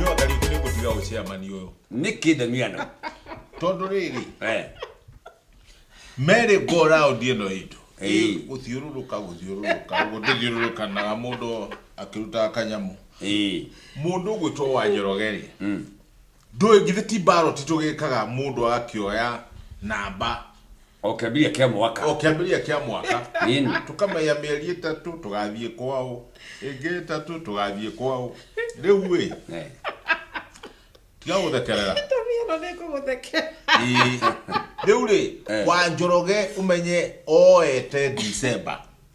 Nyua karibu ni kutuya ushia mani uyo. nä kä ndania na Tondu riri Eh, merry go round ino itu. Ĩĩ. Guthiururuka guthiururuka guthiururukanaga mundu akirutaga kanyamu. ĩĩ. Mundu gwitwo wa Njorogeri. Mm. Ndũĩ githĩ ti ballot tũgĩkaga mũndũ agakĩoya namba o kĩambĩrĩria kĩa mwaka o kĩambĩrĩria kĩa mwaka Ĩni. tũkamenya mĩeri ĩtatũ tũgathiĩ kwao ĩngĩ ĩtatũ tũgathiĩ kwao rĩu ĩ Eh, tiga gũthekerera Ĩno nĩ ngũgũthekera. Ĩĩ. rĩu rĩ Eh. wa njoroge ũmenye oete December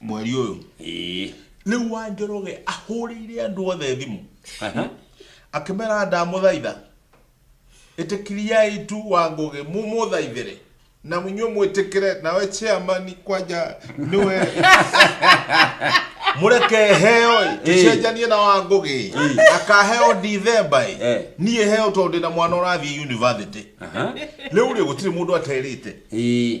mweri ũyũ Ĩĩ. rĩu wa njoroge ahũrĩire andũ othe thimũ Aha. akĩmera ndamũthaitha ĩtĩkiriai tu wa ngũgĩ mũmũthaithĩre na inyuĩ mwĩtĩkĩre nawe chairman kwanja nĩwe mũreke heo ĩ, tũcenjanie na wa ngũgĩ akaheo ndithemba ĩ Eh. niĩ heo tondũ ndĩ na mwana ũrathiĩ university Aha. rĩu rĩ gũtirĩ mũndũ aterĩte Ĩĩ.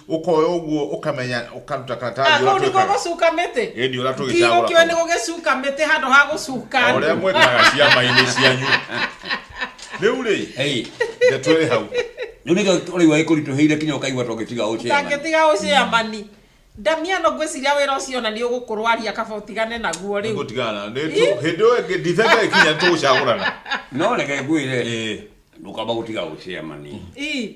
ũkoya ũguo ũkamenya ũkaruta karatathi kũu nĩkuo ũratwĩkaga gũcuka mĩtĩ ĩni ũrĩa ndigũkĩũĩ nĩ tũgĩcagũra gũgĩcuka mĩtĩ handũ ha gũcuka o ũrĩa mwĩkaga ciama-inĩ cianyu rĩu rĩ Ĩĩ. ndeto ĩrĩ hau Rĩu nĩkĩo ũraigua gĩkũritũhĩire kinya ũkaigua to gĩtiga ũcema. tangĩtiga ũcĩamani ndamiano ngwĩciria wĩra ũcio ona nĩ ũgũkũrwaria kaba ũtigane naguo rĩu nĩgũtigana Nĩ tu- hĩndĩ ĩyo ĩngĩ ndithemba ĩkinya nĩtũgũcagũrana No reke ngwĩre Ĩĩ. ndũkamba gũtiga ũcemani. Ii,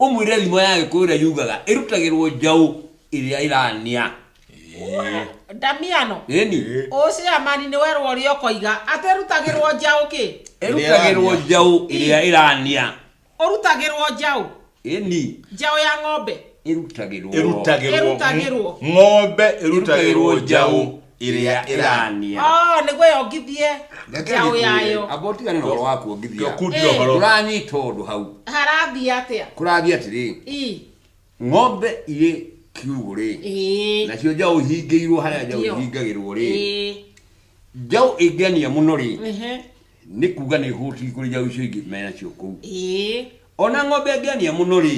ũmwĩre thimo ya gĩkũyũ ĩrĩa yugaga ĩrutagĩrwo njaũ ĩrĩa ĩrania Wee, ndamiano ĩni ũcio amani nĩ werwo ũrĩa ũkoiga atĩ rutagĩrwo njaũ kĩ ĩrutagĩrwo njaũ ĩrĩa ĩrania ũrutagĩrwo njaũ ĩni njaũ ya ng'ombe ĩrutagĩrwo Ĩrutagĩrwo. Ĩrutagĩrwo. Ng'ombe ĩrutagĩrwo njaũ. ĩrĩa ĩrania Ah, nĩguo yongithie njaũ yayo amba ũtigane na ũhoro wa kuongithia kundia Eh. ũhoro ũranyita ũndũ hau harathiĩ atĩa kũrathiĩ atĩrĩ Ii, ng'ombe irĩ kiugũ rĩ ĩĩ, nacio njaũ ihingĩirwo harĩa njaũ Ndio. ihingagĩrwo rĩ ĩĩ, njaũ ĩngĩania mũno rĩ ehe, nĩ kuga nĩ hũti kũrĩ njaũ icio ingĩ menacio kũu ĩĩ, ona ng'ombe angĩania mũno rĩ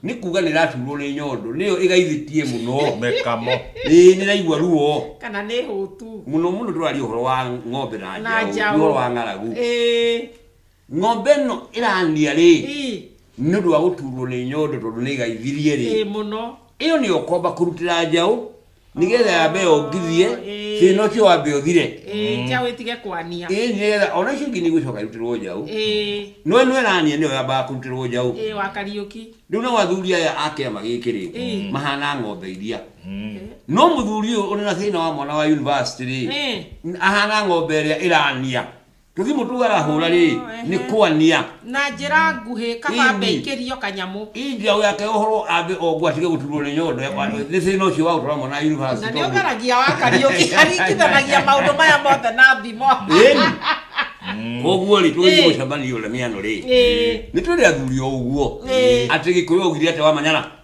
nĩ kuga nĩ ĩraturwo nĩ nyondo nĩyo ĩgaithĩtie mũno mekamo ĩĩ nĩ raigua ruo kana nĩ hũtu mũno mũno tũraria ũhoro wa ng'ombe na na njaũ ti njaũ ũhoro wa ng'aragu Ĩĩ, ng'ombe ĩno ĩrania rĩ ii, nĩ ũndũ wa gũturwo nĩ nyondo tondũ nĩ ĩgaithirie rĩ ĩĩ mũno ĩyo nĩyo ũkomba kũrutĩra njaũ nigetha yambe yongithie Oh, ĩĩ. thina ũcio wambe ũthire Ĩĩ, njaũ ĩtige kwania ĩĩ nigetha ona icio ingĩ nĩigũcoka irutĩrwo njaũ Ĩĩ, no ĩno ĩrania nĩyo yambaga kũrutĩrwo njaũ ĩĩ, wa kariũki rĩu nao athuri aya a kĩama gĩkĩ rĩ Ĩĩ. mahana ng'ombe iria no mũthuri ũyũ ũrĩ na thĩna wa mwana wa university rĩ Ĩĩ. ahana ng'ombe ĩrĩa ĩrania Gĩthimũ tu arahũra rĩ, Oh, ehe. nĩ kwania. na njĩra nguhĩ kaba Indi. mbeikĩrio kanyamũ Ii njiao yake ũhoro ambe ongwa atige gũturwo nĩ nyondo ya kwana. Nĩ thĩna ũcio wa gũtwara mwana na nĩ university. tondũ- ũgeragia wa kariũki aringithanagia maũndũ maya mothe na thimo Ĩni. Koguo rĩ, tũgĩthiĩ Ĩĩ. mũcemanio ũrĩa mĩano rĩ. Ĩĩ. Nĩ tũrĩ athuri o ũguo. Ĩĩ. Atĩ gĩkũyũ augire atĩ wamanyara.